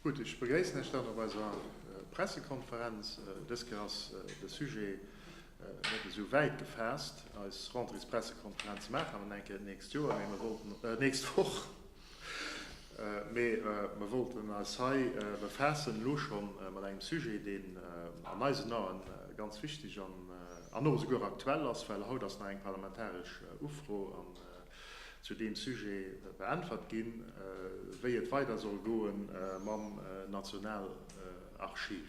Gutt, ech begréissen Iech dann op eiser Pressekonferenz. Dës Kéier ass de Sujet net esou wäit gefaasst, eis Rentrées-Pressekonferenz maache mer enke nächst Joer, mee mer wollten, nächst Woch, mee mer wollten eis hei befaassen elo scho mat engem Sujet, deen an eisen Ae ganz wichteg an och esouguer aktuell ass, well haut ass nach eng parlamentaresch Ufro an zu deem Sujet beäntwert ginn, wéi et weider soll goe mam Nationalarchiv.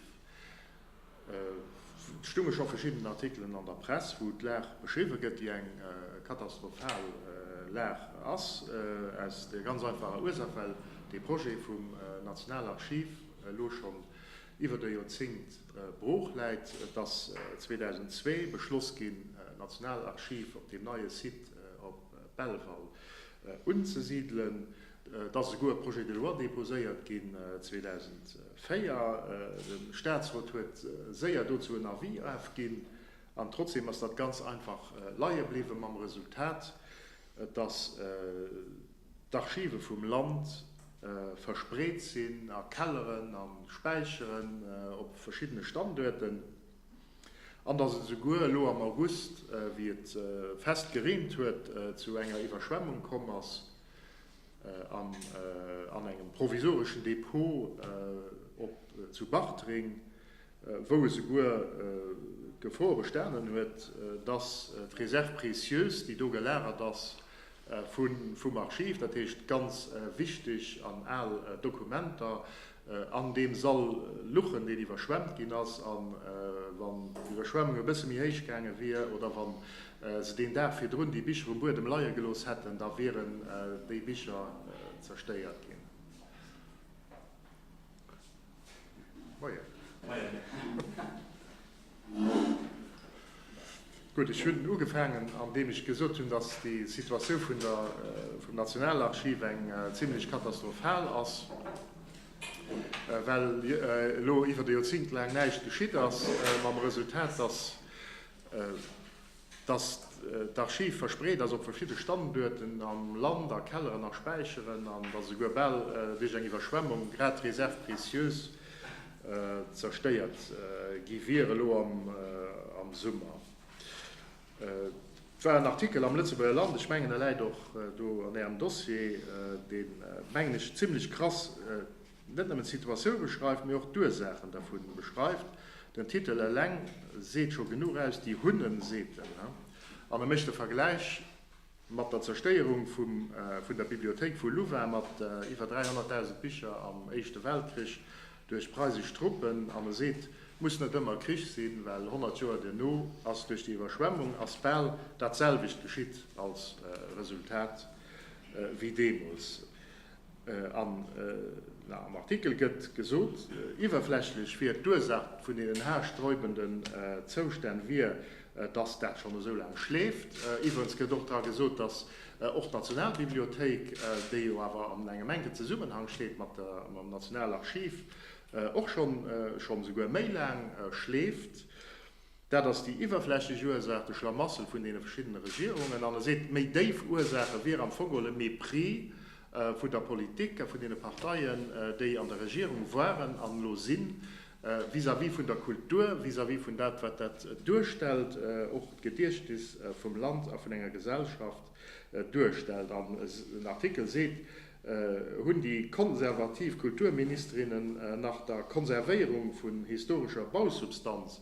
Et stounge scho verschidden Artikelen an der Press, wou d'Lag beschriwwe gëtt, déi eng katastrophal Lag ass, aus der ganz einfacher Ursaach, well dee Projet vum Nationalarchiv elo schonn iwwert e Joerzéngt brooch läit. Et ass 2002 beschloss ginn, d'Nationalarchiv op deem neie Site op Belval unzesidelen. Et ass esouguer e Projet de loi deposéiert ginn 2004. De Statsrot huet séier dozou en Avis ofginn, an trotzdeem ass dat ganz einfach leie bliwwen, mam Resultat, dass. d'Archive vum Land verspreet sinn a Kelleren a Späicheren op verschiddene Standuerten, an datt et esouguer elo am August, wéi et fest gereent huet, zu enger Iwwerschwemmung komm ass an an engem provisoreschen Depot zu Bartreng wou e souguer d'Gefor bestanen huet, dass d'Réserve précieuse, déi do gelagert ass vum Archiv, dat heescht ganz wichteg an al Dokumenter, an deem Sall luchen, deen iwwerschwemmt ginn ass. A wann d'Iwwerschwemmung e bësse méi héich gaange wier oder wa se deen Dag virdrun déi Bicher um Buedem leie gelooss hätten, da wieren déi Bicher zerstéiert ginn. Gutt, ech hunn ugefaangen, andeem ech gesot hunn, datt déi Situatioun vun der, vum Nationalarchiv eng zimlech katastrophal ass, well elo iwwer e Joerzéngt laang näischt geschitt ass, mam Resultat, datt, Dass d'Archiv verspreet ass op verschidde Standuerten am Land, a Kelleren a Späicheren, an dass esouguer bal duerch eng Iwwerschwemmung grad d'Réserves précieuses zerstéiert gi wier elo am Summer, war en Artikel am Lëtzebuerger Land, ech mengen e läit och do an Ärem Dossier, dee mengen ech zimlech krass net nëmmen d'Situatioun beschreift, mee och d'Ursaachen dervu beschreift. Den Titel eleng seet scho genuch aus, Die Hunnen säten. An e mécht de Vergläich mat der Zerstéierung vun der Bibliothéik vu Louvain mat iwwer 300.000 Bicher am Éischte Weltkrich duerch preisesch Truppen an e seet, Muss net ëmmer Krich sinn, well 100 Joer duerno ass duerch déi Iwwerschwemmung ass bal datselwecht geschitt als Resultat wéi deemools. An am Artikel gëtt gesot, iwwerflächlech wier d'Ursaach vun deenen haarsträubenden Zoustänn wier, datt dat schonn esou laang schleeft. Iwwerens gëtt och dra gesot, datt och d'Nationalbibliothéik, déi jo awer an engem enke Zesummenhang steet mam Nationalarchiv, och schonn esouguer méi laang schleeft. Dat ass déi iwwerflächeg Ursaach, de Schlamassel vun deene verschiddene Regierungen. An e seet, d'méi déif Ursache wier am Fong geholl e Mépris vun der Politik a vun deene Parteien, déi an der Regierung waren an elo sinn, vis-à-vis vun der Kultur, vis-à-vis vun dat, wat dat duerstellt, och d'Gediechtnis vum Land a vun enger Gesellschaft duerstellt. An den Artikel seet, Hunn déi konservativ Kulturministerinnen nach der Konservéierung vun historescher Bausubstanz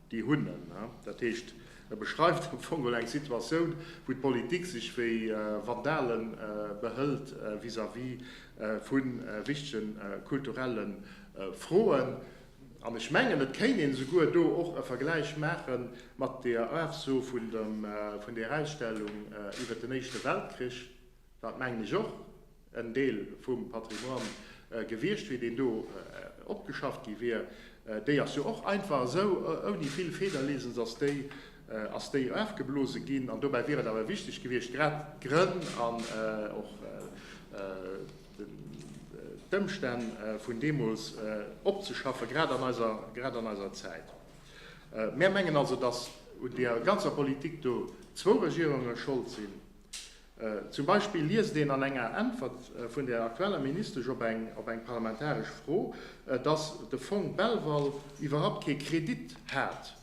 déi hunn en. Dat heescht, e beschreift am Fong geholl eng Situatioun, wou d'Politik sech wéi Vandale behëlt vis-à-vis vu wichtege kulturelle Froen. An ech mengen, et kéint een esouguer do och e Vergläich maache mat der Afso vun der Ausstellung iwwert den Éischte Weltkrich, Dat mengen ech och en Deel vum Patrimoine gewiescht wier, deen do opgeschafft gi wier. Déi ass jo och einfach esou ouni vill Federlesens ass déi ass déi ofgeblose ginn. An dobäi wier et awer wichteg gewiescht, grad d'Grënn an och d'Ëmstänn vun deemools opzeschaffen, grad an eiser grad an eiser Zäit. Mär mengen also, datt un där ganzer Politik do zwou Regierunge schold sinn. Zum Beispill liest een an enger Äntwert vun der aktueller Ministesch op eng op eng parlamentaresch Fro, datt de Fong Belval iwwerhapt kee Kredit hat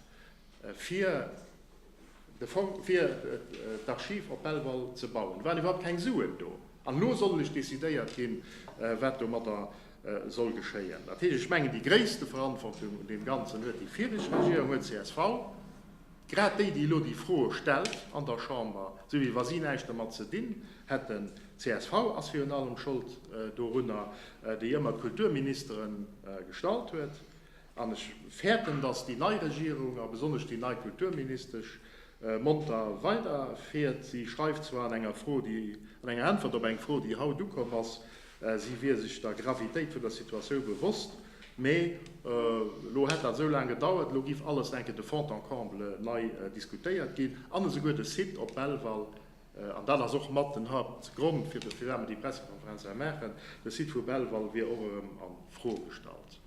fir de Fong, fir d'Archiv op Belval ze bauen. Do waren iwwerhapt keng Suen do. An elo soll lech decidéiert ginn, wat domadder soll geschéien. Dat heescht, ech mengen, déi gréisste Verantwortung un deem Ganzen huet déi viregt Regierung, huet csv. Grad déi, déi elo déi Froe stellt an der Chamber, sou wéi wa si näischt dermat ze dinn hätten, csv ass virun allem Schold dorunner, déi ëmmer d'Kulturministere gestallt huet, an ech fäerten, datt déi nei Regierung a besonnesch déi nei Kulturministesch monter weiderfiert, si schreift zwar an enger Fro, déi, an enger Äntwert op eng Fro, déi haut ukomm ass, Si wier sech der Gravitéit vun der Situatiou bewosst, mee elo hätt dat esou laang gedauert. Elo giff alles enke de fond en comble nei diskutéiert ginn an esouguer de Site op Belval, an dat ass och mat den Hauptgrond fir de firwat mer déi Pressekonferenz hei maachen, de Site vu Belval wier och erëm a Fro gestallt.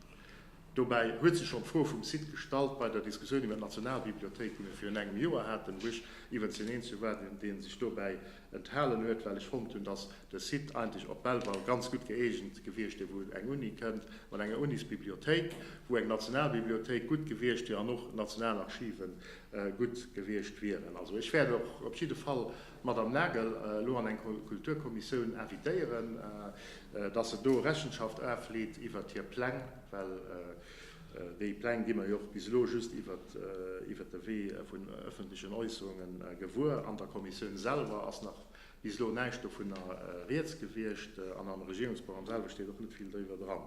Dobäi huet sech schonn d'Fro vum Site gestallt bei der Diskussioun iwwer d'Nationalbibliothéik, déi mer virun engem Joer haten, wou ech iwwenzs hineen zu war, dee sech dobäi enthalen huet, well ech fonnt hunn, dass de Site eigentlech op Belval ganz gutt gëeegent gewiescht wier, wou eng Uni kënnt mat enger Unisbibliothéik, wou eng Nationalbibliothéik gutt gewiescht wier an och Nationalarchive gutt gewiescht wieren. Also ech wäert och op jidde Fall d'Madame Nagel elo an eng Kulturkommissioun invitéieren, dass se do Rechenschaft afleet iwwert hir Pläng, well Déi Pläng gi mer jo och bis elo just iwwert de Wee vun ëffentlechen Äusserunge gewuer. An der Kommissioun selwer ass nach bis elo näischt dovunner Rieds gewiescht an am Regierungsprogramm selwer steet och net vill doriwwer dran.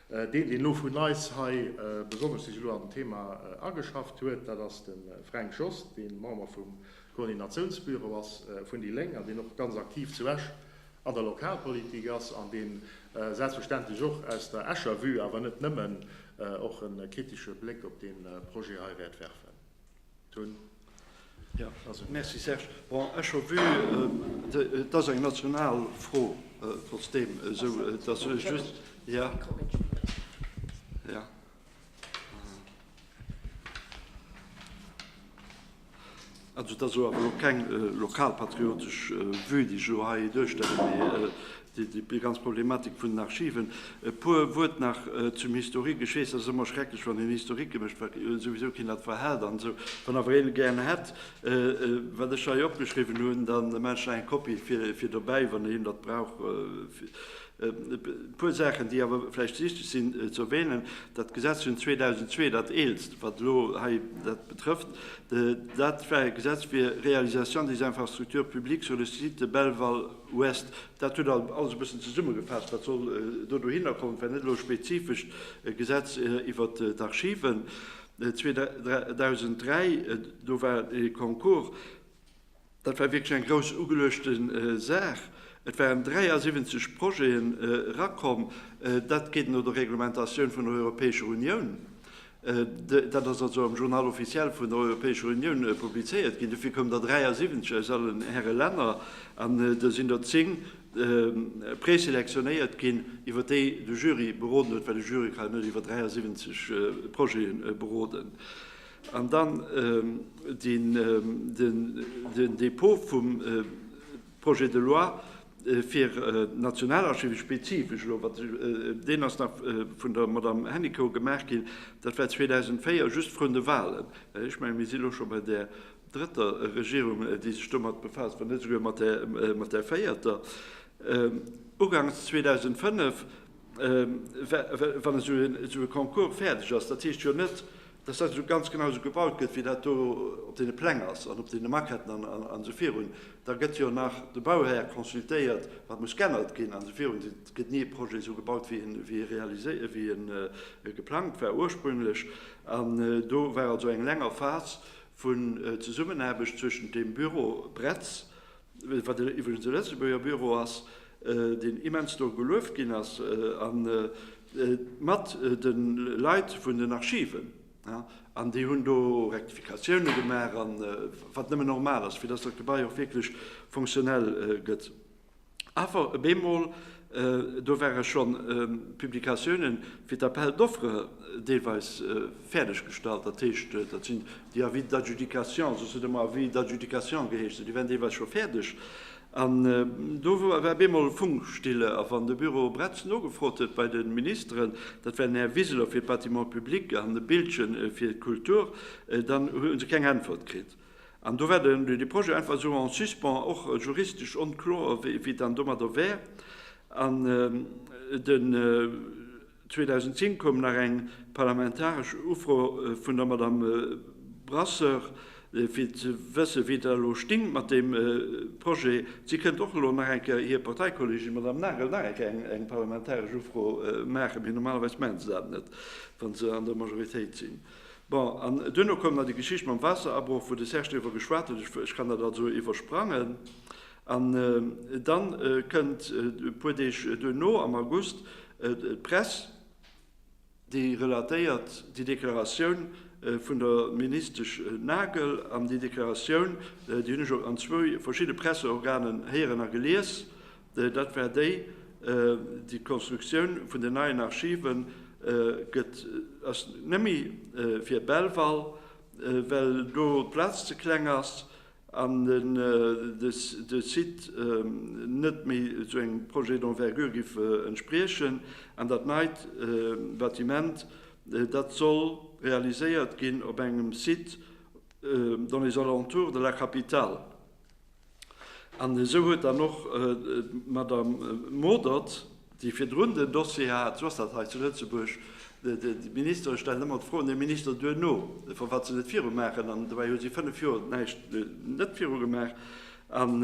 Deen, deen elo vun eis hei besonnesch sech elo an den Thema ageschafft huet, dat ass de Fränk Jost, dee Member vum Koordinatiounsbüro ass vun déi Lénk an deen och ganz aktiv zu Esch an der Lokalpolitik ass an deen selbstverständlech och aus der Escher Vue, awer net nëmmen, och e kritische Bléck op dee Projet hei wäert werfen. Toun ass un Iech. Merci Serge. Bon, Escher Vue, et ass eng national Fro trotzdeem, esou dass ech just, jo. Also dat ass awer elo keng lokalpatriotesch Vue, déi ech elo hei duerstellen, mee déi ganz Problematik vun den Archiven. E puer Wuert nach zum Historique. Ech weess, dat ass ëmmer schrecklech, wann een Historique gemécht gëtt, well souwisou keen dat verhält an esou. Wann awer een e gären hätt, wat ech hei opgeschriwwen hunn, da maachen ech nach eng Kopie fir dobäi, wann een dat brauch. E puer Saachen, déi awer vläicht wichteg sinn ze erwänen, Dat Gesetz vun 2002, dat eelst, wat elo hei dat betrëfft, dat war e Gesetz fir Réalisation des infrastructures publiques sur le site de Belval ouest. Dat huet alles e bëssen zesummegefaasst, wat soll do dohinner kommen. Et war net elo e spezifescht Gesetz iwwer d'Archiven. 2003, do war e Concours. Dat war wierklech eng grouss ugeluechte Saach. Et waren 73 Projete erakomm. Dat geet no der Reglementatioun vun der Europäescher Unioun. Dat ass also am Journal officiel vun der Europäescher Unioun publizéiert ginn. Dofir koumen der 73 aus allen Häre Länner an der sinn der 10 preselectionéiert ginn, iwwer déi de Jury beroden huet, well e Jury ka jo net iwwer 73 Projete beroden. An dann den Dépôt vum Projet de loi fir d'Nationalarchive spezifesch elo, deen ass nach vun der Madamm Hennicot gemaach ginn. Dat war 2004, just vrun de Wahlen. Ech mengen, mir sinn elo scho bei där drëtter Regierung, déi sech domat befaasst, wann net esouguer mat där véierter. Uganks 2005 Wann esou e Concours fäerdeg ass, dat heescht jo net, dass dat esou ganz genau esou gebaut gëtt, wéi dat do op deene Pläng ass an op deene Maquetten an esou virun. Da gëtt jo nach de Bauhär consultéiert, wat muss g'ännert ginn an esou virun. Et gëtt ni e Projet esou gebaut, wéi e geplangt war ursprünglech. An do war also eng länger Phas vun Zesummenaarbecht zwëschent dem Büro Bretz, wat iwwregens e Lëtzebuerger Büro ass, deen immens do gelueft ginn ass, an mat de Leit vun den Archiven, an déi hunn do Rektifikatioune gemaach, an wat nëmmen normal ass, fir datt dat Gebai och wierklech fonctionnel gëtt. Awer bemol Do ware schonn Publikatiounen fir d'Appel d'offres deelweis fäerdeg gestallt. Dat heescht, dat sinn déi Avis d'adjudication, soss huet et ëmmer Avis d'adjudication geheescht, esou déi wären deelweis scho fäerdeg. An do war op eemol Funkstille. A wann de Büro Bretz nogefrot huet bei de Ministeren, dat war den Här Wiseler fir d'Bâtiments publics an de Biltgen fir d'Kultur, dann hu se keng Äntwert kritt. An do war den de Projet einfach esou en suspens, och juristesch onkloer, wéi wéi et dann domadder wär. An den 2010 koum nach eng parlamentaresch Ufro vun der Madamm Brasseur, fir ze wëssen, wéi et elo stéing mat deem Projet. Si kënnt och elo nach eng Kéier, hir Parteikolleegin Madamm Nagel, nach eng Kéier eng eng parlamentaresch Ufro maachen, mee normalerweis maachen se dat net, wa se an der Majoritéit sinn. Bon, an duerno koum nach déi Geschicht mam Waasserabroch, wou de Serge driwwer geschwat huet, ech kann dat also iwwersprangen. An da kënnt e puer Deeg duerno, am August, d'Press, déi relatéiert déi Deklaratioun vun der Ministesch Nagel. An déi Deklaratioun, déi hunn ech och an zwou verschidde Presseorganen héieren a gelies, Dat war déi, déi Konstruktioun vun den neien Archive gëtt, ass net méi fir Belval, well do d'Plaz ze kleng ass an de Site net méi esou engem Projet d'envergure géif entspriechen. An dat neit Bâtiment, dat soll realiséiert ginn op engem Site dans les alentours de la capitale. An esou huet dann och d'Madame Modert, déi virdrun den Dossier hat, esou ass dat hei zu Lëtzebuerg, déi Ministere stellen ëmmer d'Fro un de Minister duerno, firwat se net viru maachen, an dobäi hu si fënnef Joer näischt net viru gemaach. An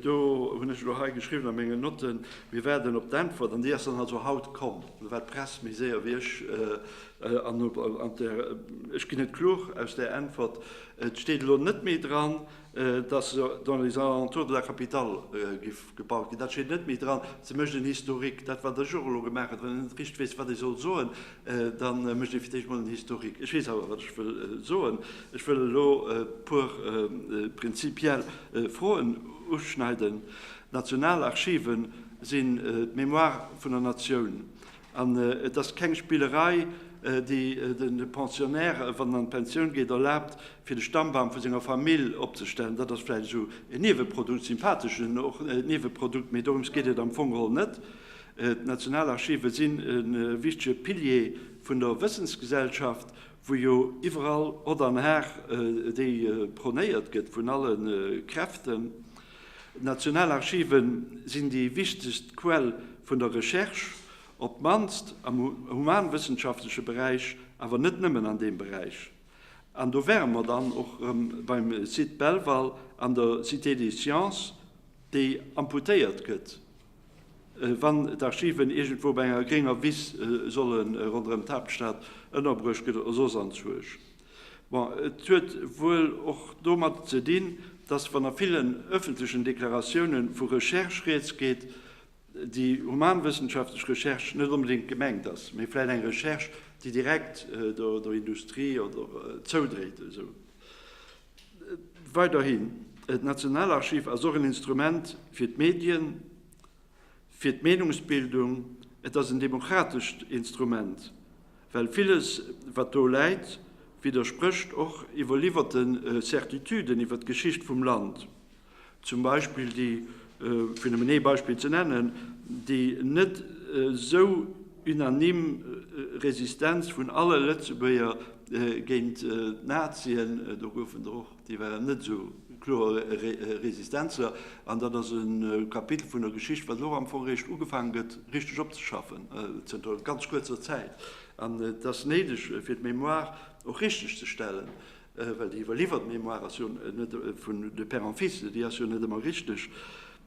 do hunn ech elo hei geschriwwen a mengen Notten, Mir waarden op d'Äntwert. An déi ass dann also haut komm. Do war d'Press méi séier wéi ech. An ech ginn et kloer aus där Äntwert, et steet elo net méi dran, dass dans les alentours de la capitale géif gebaut ginn, dat steet net méi dran. Se mécht en Historique. Dat, wat ech och elo gemaach hutt, wann een net richteg weess, wat ee soll soen, da mécht ee fir d'éischt emol en Historique. Ech weess awer, wat ech wëll soen. Ech wëll elo e puer prinzipiell Froen uschneiden. D'Nationalarchiven sinn d'Mémoire vun der Natioun. An et ass keng Spillerei, déi de Pensionnaire, wann en an d'Pensioun geet, erlaabt, fir de Stammbaum vu senger Famill opzestellen. Dat ass vläicht esou en Nieweprodukt, sympatheschen Nieweprodukt, mee dorëms geet et am Fong geholl net. D'Nationalarchive sinn e wichtege Pilier vun der Wëssensgesellschaft, wou jo iwwerall Hott an Har, déi prônéiert gëtt vun alle Kräften, D'Nationalarchive sinn déi wichtegst Quell vun der Recherche, op d'mannst am humanwëssenschaftleche Beräich, awer net nëmmen an deem Beräich. An do wäre mer dann och erëm beim Site Belval an der Cité des Sciences, déi amputéiert gëtt, wann d'Archiven iergendwou op enger grénger Wiss solle ronderëm d'Haaptstad ënnerbruecht gëtt oder soss anzwousch. Bon, et huet wuel och domat ze dinn, dass wann a villen öffentlechen Deklaratioune vu Recherche rieds geet, déi humanwëssenschaftlech Recherche net onbedéngt gemengt ass, mee vläicht eng Recherche, déi direkt der Industrie oder zoudréit. Weiderhin, d'Nationalarchiv ass och en Instrument fir d'Medien. Fir d'Meenungsbildung, et ass en demokratescht Instrument, well villes, wat do läit, widdersprécht och iwwerliwwerte Certitüden iwwer d'Geschicht vum Land, zum Beispill déi, fir nëmmen ee Beispill ze nennen, déi net esou unanime Resistenz vun alle Lëtzebuerger géint d'Nazien, do goufen der och. Déi waren net esou kloer Resistenzler. An dat ass e Kapitel vun der Geschicht, wat elo am Fong eréischt ugefaangen gëtt, richteg opzeschaffen, zënter ganz kuerzer Zäit. An et ass néideg, fir d'Mémoire och richteg ze stellen, well déi iwwerliwwert Mémoire ass jo net vun de père en fils, déi ass jo net ëmmer richteg,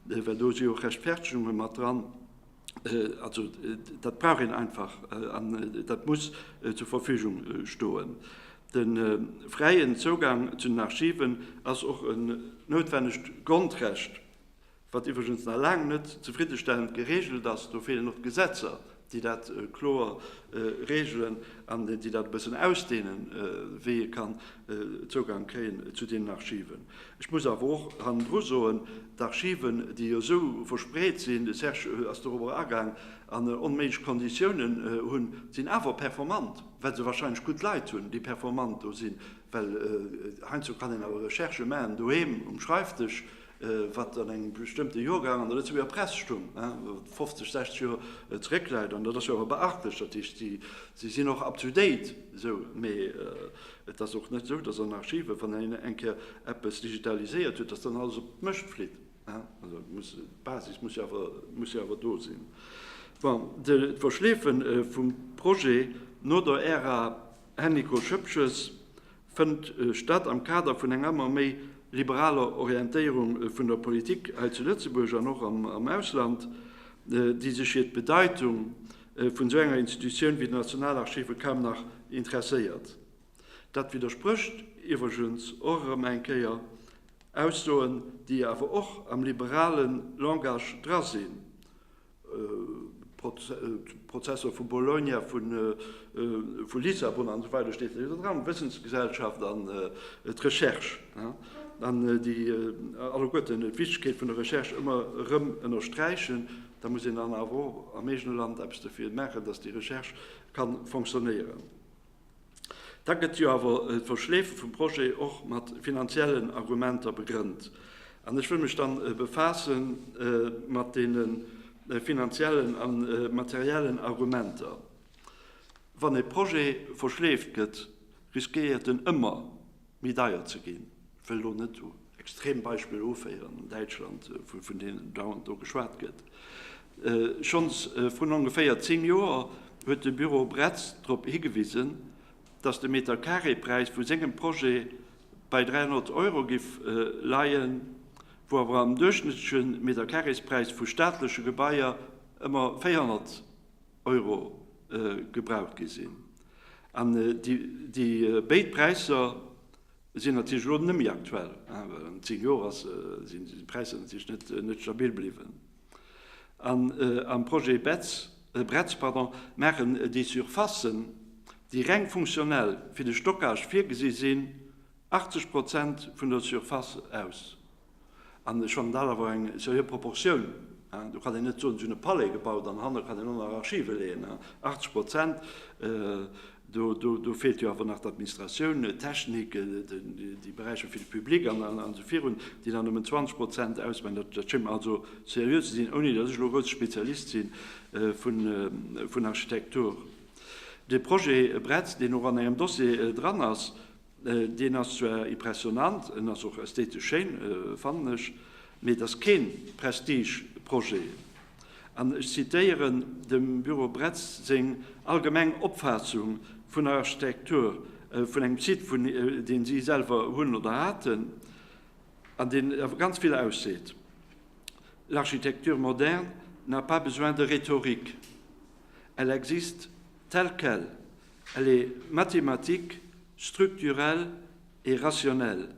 well do si jo och Rechtfertegunge mat dran. Dat brauch een einfach an dat muss zur Verfügung stoen. De fräien Zougang zu den Archiven ass och en noutwennegt Grondrecht, wat iwwregens nach laang net zefriddestellend geregelt ass. Do feelen och d'Gesetzer, déi dat kloer regelen an déi dat e bëssen ausdehnen, wéi ee kann Zougang kréien zu deenen Archiven. Ech muss awer och hannendru soen, d'Archiven, déi jo esou verspreet sinn, de Serge ass dorobber agaang, an onméiglech Konditiounen hunn, sinn awer performant, well se wahrscheinlech gutt Leit hunn, déi performant do sinn. Well heiansdo kann een awer Recherchë maachen doheem um Schreifdësch, wat an engem bestëmmte Jorgang an der Lëtzebuerger Press stung, wat 50, 60 Joer zeréckläit. An dat ass jo awer beachtlech. Dat heescht, si sinn och up-to-date esou. Mee Et ass och net esou, dass an Archiven, wann een eng Kéier eppes digitaliséiert huet, dass dann alles op d'Mécht flitt. D'Basis muss jo awer do sinn. Bon, d'Verschleefe vum Projet no der Ära Hennico Schëpches fënnt statt am Kader vun enger ëmmer méi liberaler Orientéierung vun der Politik hei zu Lëtzebuerg an och am Ausland, déi sech hiert d'Bedeitung vun esou enger Institutioun wéi den Nationalarchiven kaum nach interesséiert. Dat widdersprécht iwwregens och erëm eng Kéier Aussoen, déi awer och am liberale Langage dra sinn, Prozesser vu Bologna, vu Lissabon an esou weider steet net iwwer dran, Wëssensgesellschaft an d'Recherche, an déi alleguerten d'Wichtegkeet vun der Recherche ëmmer erëm ënnersträichen. Da muss een dann awer och am eegene Land eppes dofir maachen, datt déi Recherche ka fonctionnéieren. Da gëtt jo awer d'Verschleefe vum Projet och mat finanziellen Argumenter begrënnt. An ech wëll mech dann befaasse mat deene finanziellen a materiellen Argumenter. Wann e Projet verschleeft gëtt, risquéiert en ëmmer, Méi deier ze ginn. Ech wëll elo net u Extrembeispiller uféieren an Däitschland, vun deenen dauernd do geschwat gëtt. Schonns vrun ongeféier zéng Joer huet de Büro Bretz drop higewisen, datt de Meterkareepräis vu sengem Projet bei 300 Euro giff leien, wou awer am duerchschnëttleche Meterkareespräis vu staatleche Gebaier ëmmer 400. Euro gebraucht gi sinn. An déi béid Präisser sinn natierlech elo net méi aktuell, well an zéng Joer sinn déi Präisser natierlech net stabil bliwwen. An am Projet Bretz maachen déi Surfacen, déi reng funktionell fir de Stockage virgesi sinn, 80 Prozent vun der Surface aus. An schonn dat awer eng seriö Proportioun. Do kann een net soen, si hunn e Palais gebaut an hanne kann een och nach Archive leeën. 80 Prozent, do feelt jo awer nach d'Administratioun, d'Technik, déi Beräicher fir de Public an esou virun, déi nach nëmmen 20 Prozent ausmaachen. Dat schéngt mer also seriö ze sinn, ouni datt ech elo e grousse Spezialist si vun Architektur. De Projet Bretz, deen och an engem Dossier dran ass, Deen ass zwar impressionnant, en ass och ästhetesch schéin, fannen ech, mee et ass keen Prestige-Projet. An ech zitéieren dem Büro Bretz seng allgemeng Opfaassung vun der Architektur vun engem Site, vun deen si selwer hunn oder haten, an deen awer ganz vill ausseet, L'architecture moderne n'a pas besoin de rhétorique, elle existe telle qu'elle, Elle est mathématique, structurelle et rationnelle.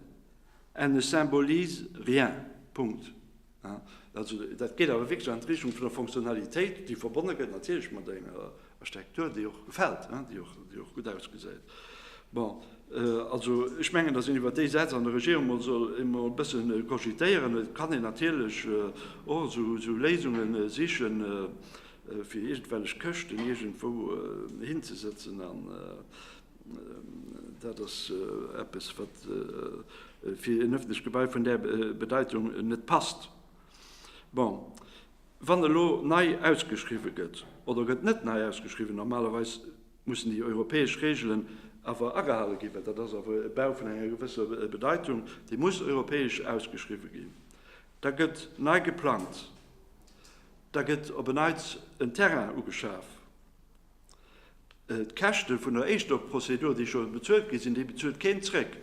Elle ne symbolise rien. Punkt. Also dat geet awer wierklech an d'Richtung vun der Fonctionnalitéit, déi verbonne gëtt natierlech mat enger Architektur, déi och gefält, déi och gutt ausgesäit. Bon, also ech mengen, datt een iwwer déi Sätz an der Regierung emol soll e bësse cogitéieren. Et kann een natierlech och esou Léisunge sichen. fir iergendwellech Këschten iergendwou hinzesëtzen an dat ass eppes, wat fir en ëffentlecht Gebai vun där Bedeitung net passt. Bon, wann elo nei ausgeschriwwen gëtt oder gëtt net nei ausgeschriwwen, normalerweis mussen déi europäesch Reegelen awer agehale ginn, well dat ass awer e Bau vun enger gewësser Bedeitung, dee muss europäesch ausgeschriwwen ginn, da gëtt nei geplangt, Da gëtt op en Neits en Terrain ugeschaf. D'Käschte vun der Éischtopprozedur, déi scho bezuelt gi sinn, déi bezuelt keen zréck.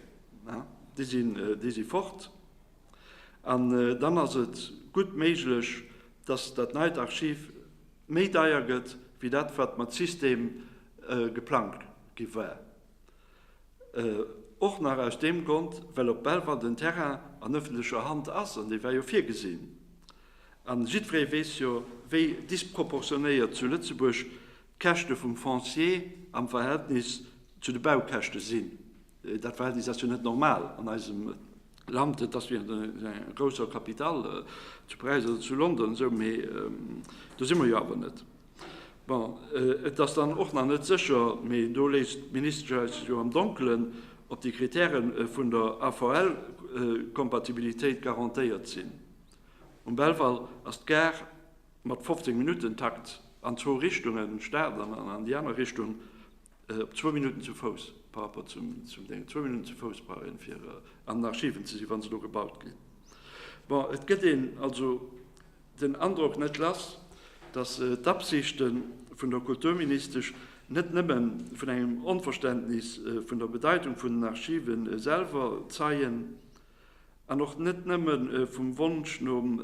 Déi si fort. An dann ass et gutt méiglech, dass dat neit Archiv méi deier gëtt wéi dat, wat mat System geplangt gi war. Och nach aus deem Grond, well op Belval den Terrain an ëffentlecher Hand ass, an dee war jo virgesinn. A jiddweree weess jo, wéi disproportionéiert zu Lëtzebuerg d'Käschte vum Foncier am Verhältnis zu de Baukäschte sinn. Dat Verhältnis ass jo net normal an eisem Land. Et ass wéi an enger grousser Capitale, zu Paräis oder zu London, esou. Mee do si mer jo awer net. Bon, et ass dann och nach net sécher, mee do léisst d'Ministesch eis jo am Donkelen, ob déi Kritäre vun der AVL-Kompatibilitéit garantéiert sinn. Um Belval ass d'Gare mat 15 Minutten-Takt an zwou Richtungen, an d'Stad an an déi aner Richtung, op zwou Minutten zu Fouss par rapport zum Ding. Zwou Minutten zu Fouss brauch een, fir an den Archiven ze sinn, wa se do gebaut ginn. Bon, et gëtt een also den Androck net lass, datt d'Absichte vun der Kulturministesch net nëmme vun engem Onverständnis vun der Bedeitung vun den Archive selwer zeien an och net nëmme vum Wonsch nom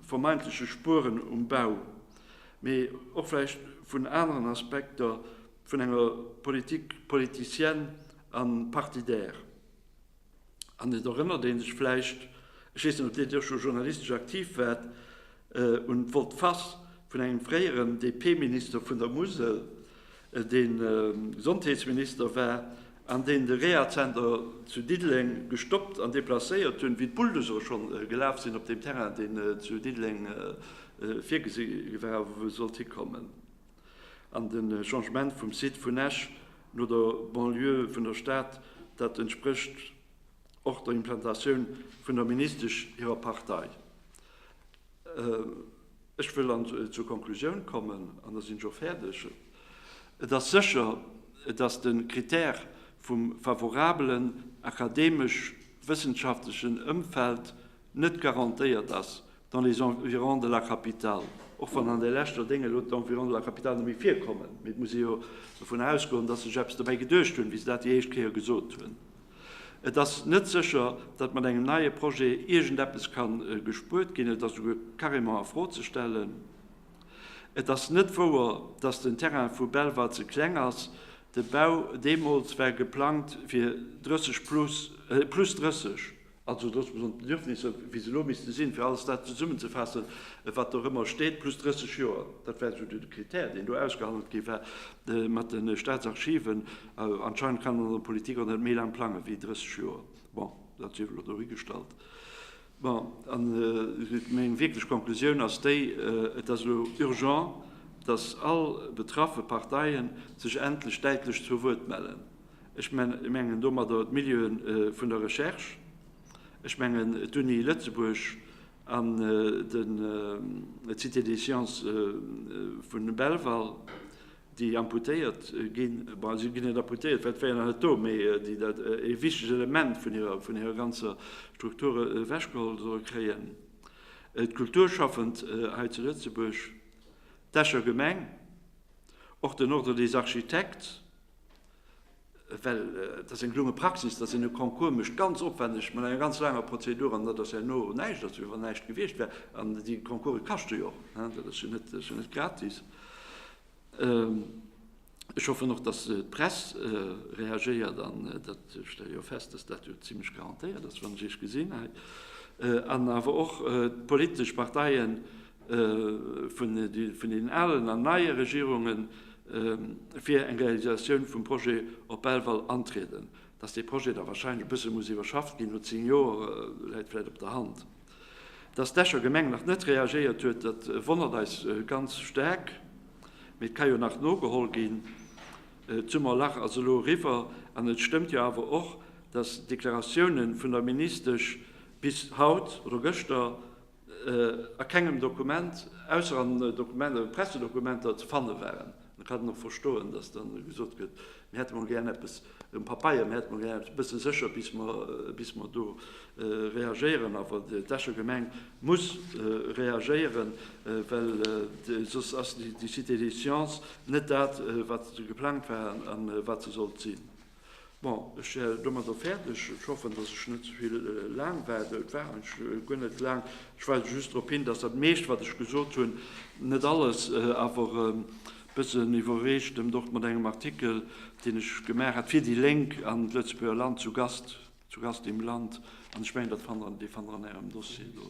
vermeintleche Spueren um Bau, mee och vläicht vun aneren Aspekter vun enger Politique politicienne a partidaire. An et erënnert ee sech vläicht, ech weess net, ob Dir do scho journalistesch aktiv waart, un d'Volte-face vun engem fréieren DP-Minister vun der Musel, dee Gesondheetsminister war an deen de Rehazenter zu Diddeleng gestoppt an deplacéiert hunn, wéi d'Bulldosere scho gelaf sinn op deem Terrain, deen zu Diddeleng virgesi war, wou e sollt hikommen. An de Changement vum Site vun Esch no der Banlieue vun der Stad, dat entsprécht och der Implantatioun vun der Ministesch hirer Partei. Ech wëll an zur Konklusioun kommen, an da sinn ech och fäerdeg. Et ass sécher, datt de Krittär vum favorabelen akademesch-wëssenschaftlechen Ëmfeld net garantéiert ass, Dans les environs de la capitale, och wann an de leschter Dénge elo d'Environs de la capitale net méi virkommen, mee et muss ee jo dovunner ausgoen, datt se sech eppes dobäi geduecht hunn, wéi se dat déi éischt Kéier gesot hunn. Et ass net sécher, datt mat engem neie Projet iergendeppes ka gespuert ginn. Et ass esouguer carrément a Fro ze stellen. Et ass net wouer, datt den Terrain vu Belval ze kleng ass. De Bau deemools war geplangt fir 30 plus, plus 30. Also dass mer an d'Bedürfnisser, wéi se elo misste sinn, fir alles dat zesummenzefaassen, wat do ëmmer steet, plus 30 Joer, dat war esou de Krittär, deen do ausgehandelt gi war mat de Staatsarchiven. Anscheinend kann een an der Politik och net méi laang plangen, wéi 30 Joer. Bon, dat sief elo dohigestallt. Bon, a meng wierklech Konklusioun ass déi, Et ass elo urgent, dass all betraffe Parteien sech endlech däitlech zu Wuert mellen. Ech mengen domadder d'Milieu'en vun der Recherche. Ech mengen d'Uni Lëtzebuerg an d'Cité des Sciences vu Belval, déi amputéiert ginn. Bon, si ginn net amputéiert, well d'wéieren der net do, mee déi dat ee wichtegt Element vun hirer ganzer Struktur ewechgeholl solle kréien. D'Kulturschaffend hei zu Lëtzebuerg, d'Escher Gemeng, och den Ordre des Architectes. Well et ass eng gelunge Praxis, datt een e Concours mécht, ganz opwändeg, mat enger ganz laanger Prozedur, an dat ass herno näischt ass, wéi wann näischt gewiescht wär. An déi Concourse kaschte jo och, dat ass jo net, dat ass jo net gratis. Ech hoffen och, datt d'Press reagéiert, an dat stelle jo fest, datt dat jo zimlech garantéiert ass, wann ech Iech gesinn hei, an awer och d'politesch Parteien, vun den alen an neie Regierunge fir eng Realisatioun vum Projet op Belval antrieden. Datt dee Projet da wahrscheinlech e bësse muss iwwerschafft ginn, no zéng Joer, läit vläicht op der Hand. Datt d'Escher Gemeng nach net reagéiert huet, dat wonnert eis ganz staark, mee et ka jo nach nogeholl ginn. D'Summer lach ass elo eriwwer an et stëmmt jo awer och, datt d'Deklaratioune vun der Ministesch bis haut oder gëschter a kengem Dokument, ausser an Dokumenter, Pressedokumenter ze fanne waren. Dann kann een och verstoen, datt dann gesot gëtt, mir hätte mol gären eppes um Papeier, mir hätte mol gären eppes, e bësse sécher, bis mer do reagéieren. Awer d'Escher Gemeng muss reagéieren, well soss ass déi Cité des sciences net dat, wat geplangt war an wat se sollt sinn. Bon, ech wär domadder fäerdeg. Ech hoffen, dass ech net ze vill laang war. Et war eigentlech guer net laang. Ech weisen just drop hin, dass dat meescht, wat ech gesot hunn, net alles, awer e bëssen iwwerreecht, dëmmt och mat engem Artikel, deen ech gemaach hat fir déi Lénk an d'Lëtzebuerger Land, Zu Gast, Zu Gast im Land. An ech mengen, dat fannt Der, dee fannt Der an Ärem Dossier do.